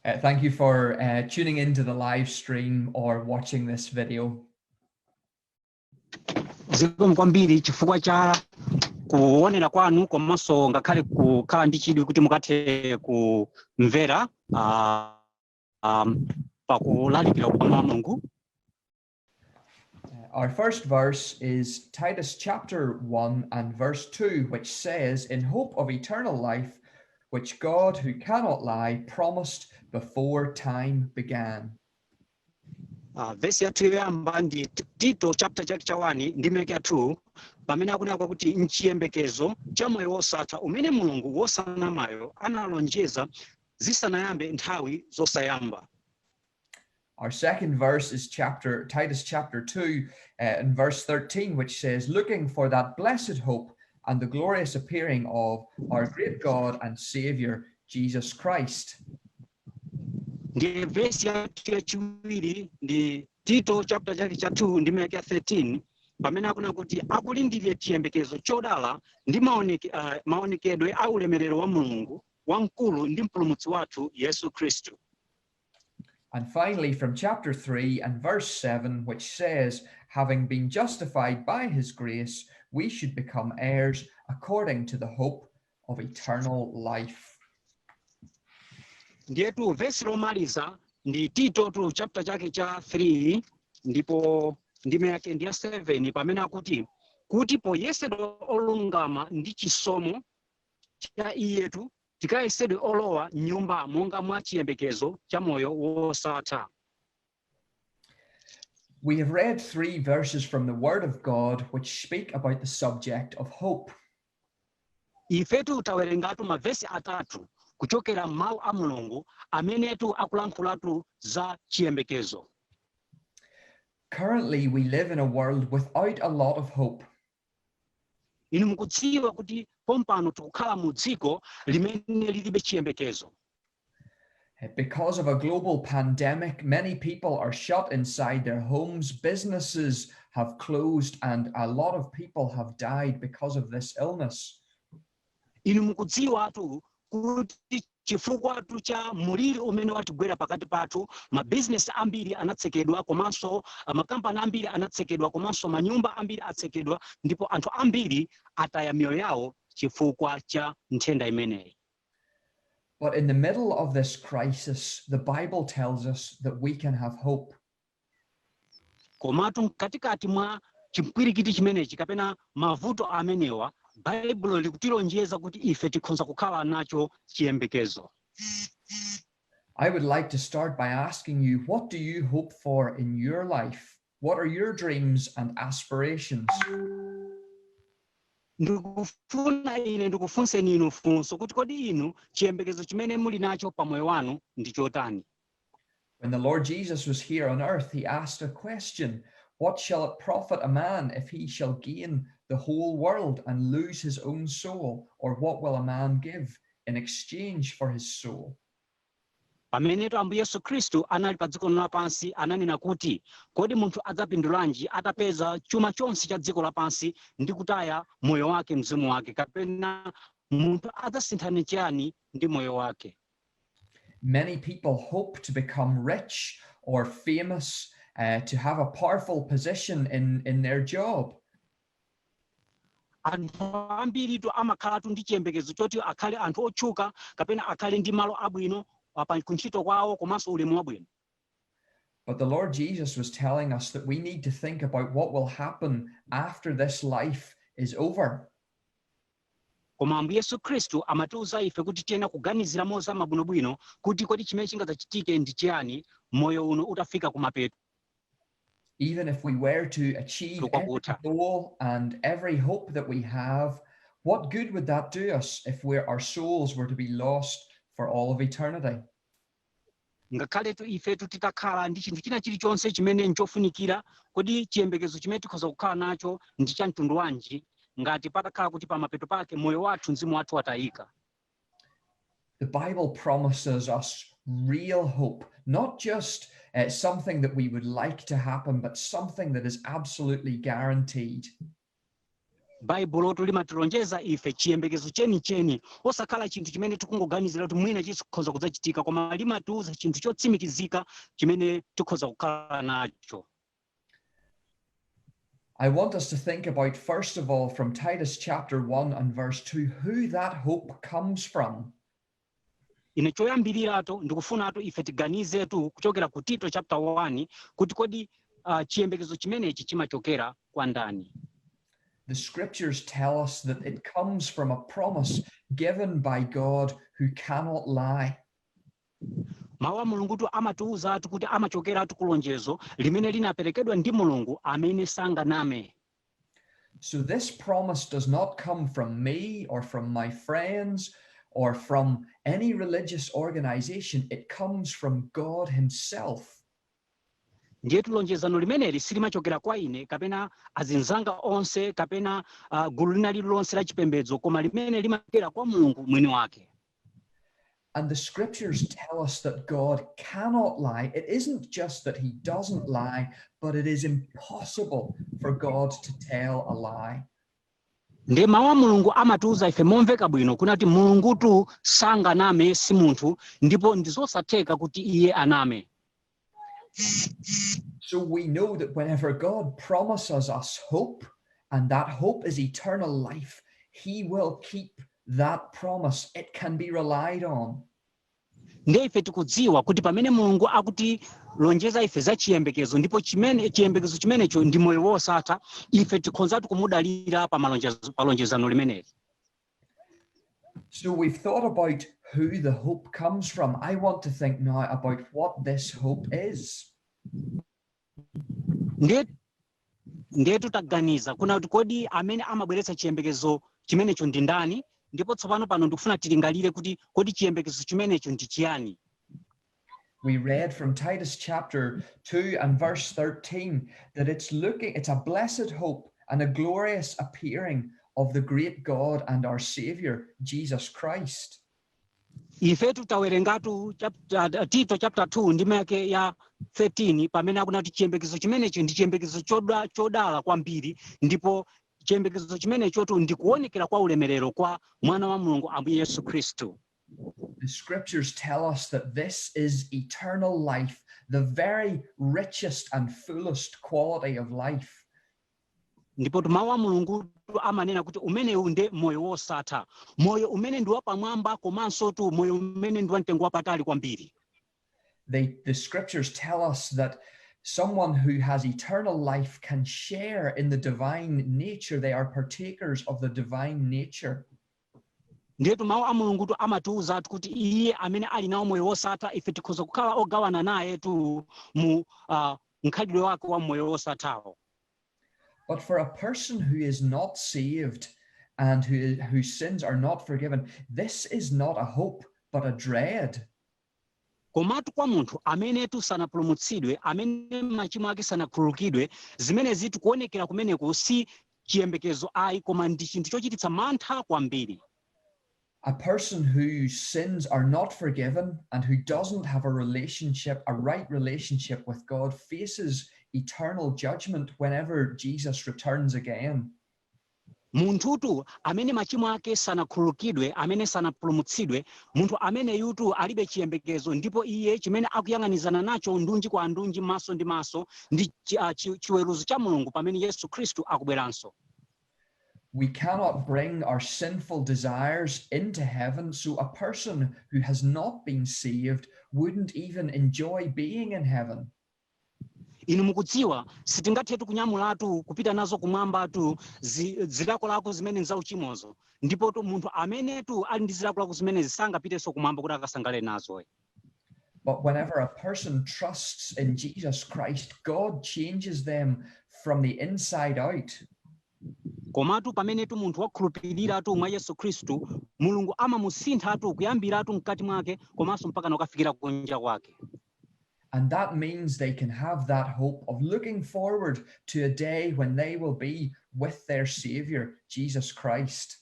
Uh, thank you for uh, tuning into the live stream or watching this video. zikomo kwambiri chifukwa cha kuonera kwanu komanso ngakhale kukhala ndi chidwi kuti mukathe kumvera ah, um, pakulalikira kwa mawu a mulungu Our first verse is Titus chapter 1 and verse 2, which says, In hope of eternal life, which God, who cannot lie, promised before time began. Uh, vesi yathu yoyamba ndi T- tito chapter chake cha 1 ndime yake ya 2 pamene akunena kuti mchiyembekezo cha moyo wosatha umene mulungu wosanamayo analonjeza zisanayambe nthawi zosayamba Our second verse is chapter Titus chapter 2 uh, and verse 13, which says, Looking for that blessed hope and the glorious appearing of our great God and Savior, Jesus Christ. ndiye vesi yathu yachiwiri ndi tito chapter chake cha 2 ndime yake ya 13 pamene akunena kuti akulindira chiyembekezo chodala ndi maoneke, uh, maonekedwe a ulemerero wa mulungu wamkulu ndi mpulumutsi wathu yesu khristu And finally, from chapter 3 and verse 7, which says, Having been justified by his grace, we should become heirs according to the hope of eternal life. ndiyetu vesi lomaliza ndi titotu chapter chake cha 3 ndipo ndime yake ndi ya 7 pamene akuti kuti poyesedwa olungama ndi chisomo cha iyetu Tikayesedwe olowa m'nyumba monga mwa chiyembekezo cha moyo wosatha. We have read three verses from the Word of God which speak about the subject of hope. Ifetu tawerengatu mavesi atatu kuchokera m'mawu a Mulungu amenetu akulankhulatu za chiyembekezo. Currently, we live in a world without a lot of hope, inu mukudziwa kuti pompano tikukhala mu dziko limene lilibe chiyembekezo Uh, Because of a global pandemic, many people are shut inside their homes, businesses have closed, and a lot of people have died because of this illness. Inu mukudziwatu kuti chifukwatu cha muliri umene watigwera pakati pathu, mabizinesi ambiri anatsekedwa komanso ah, makampani ambiri anatsekedwa komanso manyumba ambiri atsekedwa ndipo anthu ambiri ataya miyoyo yawo chifukwa cha nthenda imeneyi. But in the middle of this crisis, the Bible tells us that we can have hope. Komatu mkatikati mwa chimpwirikiti chimenechi kapena mavuto amenewa, Baibulo likutilonjeza kuti ife tikhonza kukhala nacho chiyembekezo. I would like to start by asking you, what do you hope for in your life? What are your dreams and aspirations? Ndikufuna ine ndikufunseni inu funso kuti kodi inu chiyembekezo chimene muli nacho pa moyo wanu ndi chotani? When the Lord Jesus was here on earth, he asked a question What shall it profit a man if he shall gain the whole world and lose his own soul? Or what will a man give in exchange for his soul? pamenetu ambuye yesu khristu anali pa dziko lino lapansi ananena kuti kodi munthu adzapindulanji atapeza chuma chonse cha dziko lapansi ndi kutaya moyo wake mzimu wake kapena munthu adzasinthana chiyani ndi moyo wake Many people hope to become rich or famous, uh, to have a powerful position in, in their job. anthu ambiritu amakhalatu ndi chiyembekezo choti akhale anthu otchuka kapena akhale ndi malo abwino apa kuntchito kwawo komanso ulemu wabwino But the Lord Jesus was telling us that we need to think about what will happen after this life is over. Koma Ambuye Yesu Khristu amatiuza ife kuti tiyenera kuganizira mozama bwinobwino kuti kodi chimene chingadzachitike ndi chiyani moyo uno utafika kumapeto. Even if we were to achieve every goal and every hope that we have, what good would that do us if our souls were to be lost for all of eternity? Ngakhaletu ifetu titakhala ndi chinthu china chilichonse chimene n'chofunikira, kodi chiyembekezo chimene tikhoza kukhala nacho ndi cha mtundu wanji ngati patakhala kuti pamapeto pake moyo wathu, mzimu wathu watayika? The Bible promises us real hope, not just uh, something that we would like to happen, but something that is absolutely guaranteed. baibulotu limatilonjeza ife chiyembekezo chenicheni osakhala chinthu chimene tikungoganizira kuti mwina chikhoza kudzachitika koma limatiuza chinthu chotsimikizika chimene tikhoza kukhala nacho I want us to think about, first of all, from Titus chapter 1 and verse 2, who that hope comes from. Ine choyambiriratu ndikufunatu ife tiganizetu kuchokera ku Tito chaputala 1 kuti kodi uh, chiyembekezo chimenechi chimachokera kwa ndani? The scriptures tell us that it comes from a promise given by God who cannot lie. Mawu a Mulungutu amatiuzatu kuti amachokeratu ku lonjezo limene linaperekedwa ndi Mulungu amene sanganame. So this promise does not come from me or from my friends or from any religious organization. It comes from God Himself. ndiyetu lonjezano limeneli silimachokera kwa ine kapena azinzanga onse kapena uh, gulu lina lililonse la chipembedzo koma limene limachokera kwa mulungu mwini wake And the scriptures tell us that God cannot lie. It isn't just that he doesn't lie, but it is impossible for God to tell a lie. ndiye mawu a mulungu amatiwuza ife momveka bwino kuna kuti mulungutu sanganame si munthu ndipo ndizosatheka kuti iye aname So we know that whenever God promises us hope, and that hope is eternal life, he will keep that promise. It can be relied on. ndiye ife tikudziwa kuti pamene mulungu akutilonjeza ife za chiyembekezo ndipo chimene chiyembekezo chimenecho ndi moyo wosatha ife tikhonzatu kumudalira pa malonjezo- pa lonjezano limeneli So we've thought about who the hope comes from. I want to think now about what this hope is. Ndiye titaganiza kuna kuti kodi amene amabweretsa chiyembekezo chimenecho ndi ndani ndipo tsopano pano ndikufuna tilingalire kuti kodi chiyembekezo chimenecho ndi chiyani We read from Titus chapter 2 and verse 13 that it's looking, it's a blessed hope and a glorious appearing of the great God and our Savior, Jesus Christ. ife titawerengatu chapter- tito chapter 2 ndime yake ya 13 pamene akunena kuti chiyembekezo chimenechi ndi chiyembekezo choda- chodala kwambiri ndipo chiyembekezo chimenechotu ndi kuonekera kwa ulemerero kwa mwana wa mulungu ambuye yesu khristu The scriptures tell us that this is eternal life, the very richest and fullest quality of life. ndipo mawu a mulungu amanena kuti umenewu nde moyo wosatha moyo umene ndi wapamwamba komansotu moyo umene ndi wamtengo wapatali kwambiri They, the scriptures tell us that someone who has eternal life can share in the divine nature. They are partakers of the divine nature. ndiyetu mawu a mulungutu amatiwuzatu kuti iye amene ali nawo moyo wosatha ife tikhoza kukhala ogawana nayetu mu uh, mkhalidwe wake wa moyo wosathawo But for a person who is not saved and who, whose sins are not forgiven, this is not a hope, but a dread. Komatu kwa munthu amenetu sanapulumutsidwe, amene machimo ake sanakhululukidwe, zimenezitu kuonekera kumeneku si chiyembekezo ayi, koma ndi chinthu chochititsa mantha kwambiri. A person whose sins are not forgiven and who doesn't have a relationship, a right relationship with God faces eternal judgment whenever Jesus returns again. Munthutu amene machimo ake sanakhululukidwe, amene sanapulumutsidwe, munthu ameneyutu alibe chiyembekezo, ndipo iye, chimene akuyang'anizana nacho ndunji kwa ndunji, maso ndi maso, ndi chi, a, chi, chiweruzo cha Mulungu pamene Yesu Khristu akubweranso. We cannot bring our sinful desires into heaven, so a person who has not been saved wouldn't even enjoy being in heaven. Inu mukudziwa, sitingathetu kunyamulatu kupita nazo Kumwambatu zi, zilakolako zimene nzauchimozo. Ndipotu munthu amenetu ali ndi zilakolako zimenezi sangapitenso Kumwamba kuti akasangalale nazo ayi. But whenever a person trusts in Jesus Christ, God changes them from the inside out. Komatu pamenetu munthu wakhulupiriratu mwa Yesu Khristu, Mulungu amamusinthatu kuyambiratu mkati mwake komanso mpakana kukafikira kunja kwake. And that means they can have that hope of looking forward to a day when they will be with their Savior, Jesus Christ.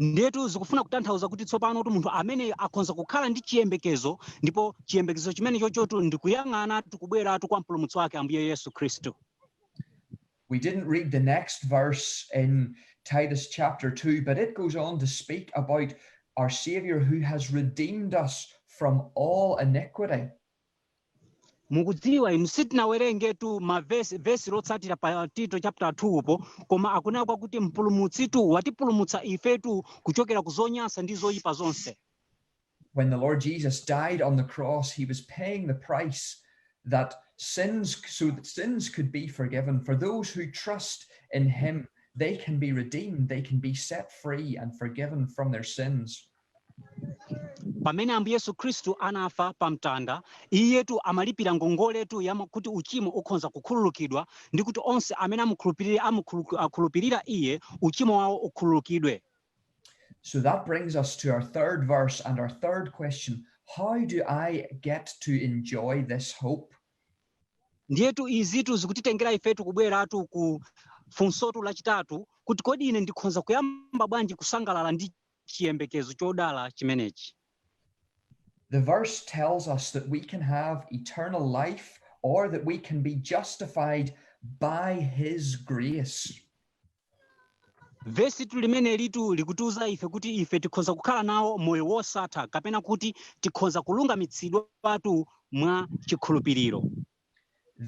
ndetu zikufuna kutanthauza kuti tsopano kuti munthu ameneyo akhonza kukhala ndi chiyembekezo ndipo chiyembekezo chimene chochotu ndikuyang'anatu kubweratu kwa mpulumutsi wake ambuye yesu khristu We didn't read the next verse in Titus chapter 2, but it goes on to speak about our Savior who has redeemed us from all iniquity. mukudziwa inu sitinawerengetu mavesi vesi lotsatira pa tito chapter 2 po koma akunena kwakuti mpulumutsitu watipulumutsa ifetu kuchokera ku zonyansa ndi zoyipa zonse when the Lord Jesus died on the cross, he was paying the price that sins, so that sins could be forgiven. For those who trust in him, they can be redeemed, they can be set free and forgiven from their sins. pamene ambuye yesu khristu anafa pa mtanda iyetu amalipira ngongoletu ya kuti uchimo ukhonza kukhululukidwa ndi kuti onse amene amukhulupirira iye uchimo wawo ukhululukidwe So that brings us to our third verse and our third question How do I get to enjoy this hope? ndiyetu izitu zikutitengera ifetu kubweratu ku funsotu lachitatu kuti kodi ine ndikhonza kuyamba bwanji kusangalala ndi chiyembekezo chodala chimenechi The verse tells us that we can have eternal life or that we can be justified by his grace. vesitu limenelitu likutiuza ife kuti ife tikhonza kukhala nawo moyo wosatha kapena kuti tikhonza kulungamitsidwatu mwa chikhulupiriro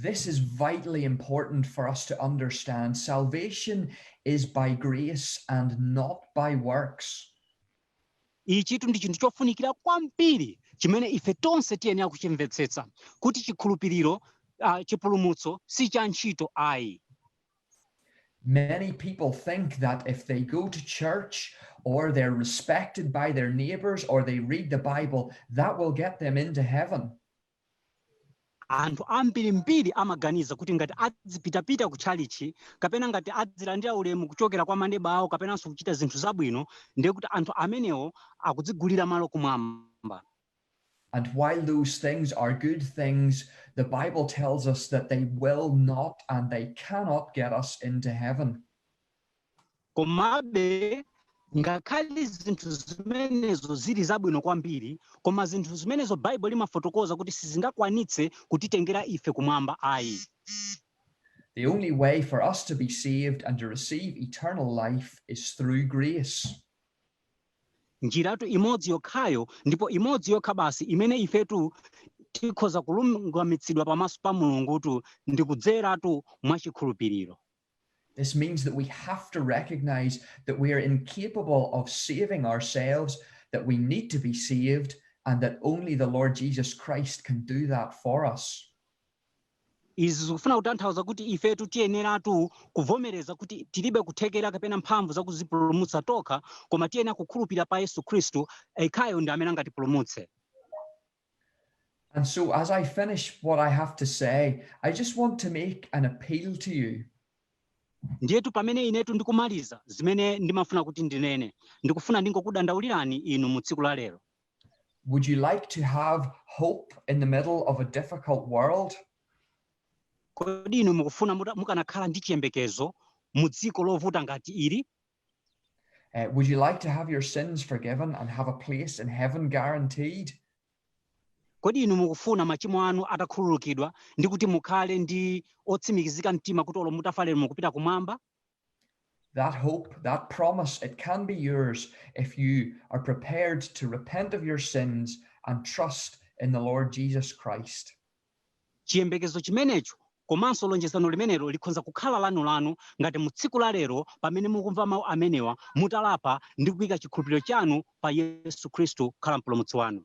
This is vitally important for us to understand. Salvation is by grace and not by works. ichitu ndi chinthu chofunikira kwambiri chimene ife tonse tiyenera kuchimvetsetsa kuti chikhulupiriro uh, chipulumutso si cha ntchito ayi Many people think that if they go to church or they're respected by their neighbors or they read the Bible, that will get them into heaven. anthu ambirimbiri amaganiza kuti ngati adzipitapita ku tchalitchi kapena ngati adzilandira ulemu kuchokera kwa maneba awo kapenanso kuchita zinthu zabwino ndiye kuti anthu amenewo akudzigulira malo kumwamba And while those things are good things, the Bible tells us that they will not and they cannot get us into heaven. komabe ngakhale zinthu zimenezo zili zabwino kwambiri koma zinthu zimenezo baibulo limafotokoza kuti sizingakwanitse kutitengera ife kumwamba ayi The only way for us to be saved and to receive eternal life is through grace. Njiratu imodzi yokhayo, ndipo imodzi yokha basi, imene ifetu tikhoza kulungamitsidwa pamaso pa Mulungutu, ndi kudzeratu mwa chikhulupiriro. This means that we have to recognize that we are incapable of saving ourselves, that we need to be saved, and that only the Lord Jesus Christ can do that for us. Izi zikufuna kutanthauza kuti ifetu tiyeneratu kuvomereza kuti tilibe kuthekera kapena mphamvu za kuzipulumutsa tokha, koma tiyenera kukhulupirira pa Yesu Khristu, ekhayo ndi amene angatipulumutse. And so as I finish what I have to say, I just want to make an appeal to you. Ndiyetu pamene inetu ndikumaliza zimene ndimafuna kuti ndinene, ndikufuna ndingokudandaulirani inu mu tsiku la lero. Would you like to have hope in the middle of a difficult world? Kodi inu mukufuna muta- mukanakhala ndi chiyembekezo mu dziko lovuta ngati ili? Uh, would you like to have your sins forgiven and have a place in heaven guaranteed? Kodi inu mukufuna machimo anu atakhululukidwa ndi kuti mukhale ndi otsimikizika mtima kuti olo mutafa lero mukupita kumwamba? That hope, that promise, it can be yours if you are prepared to repent of your sins and trust in the Lord Jesus Christ. chiyembekezo chimenecho komanso lonjezano limenelo likhonza kukhala lanu lanu ngati mu tsiku la lero pamene mukumva mawu amenewa mutalapa ndi kuyika chikhulupiriro chanu pa yesu khristu kukhala mpulumutsi wanu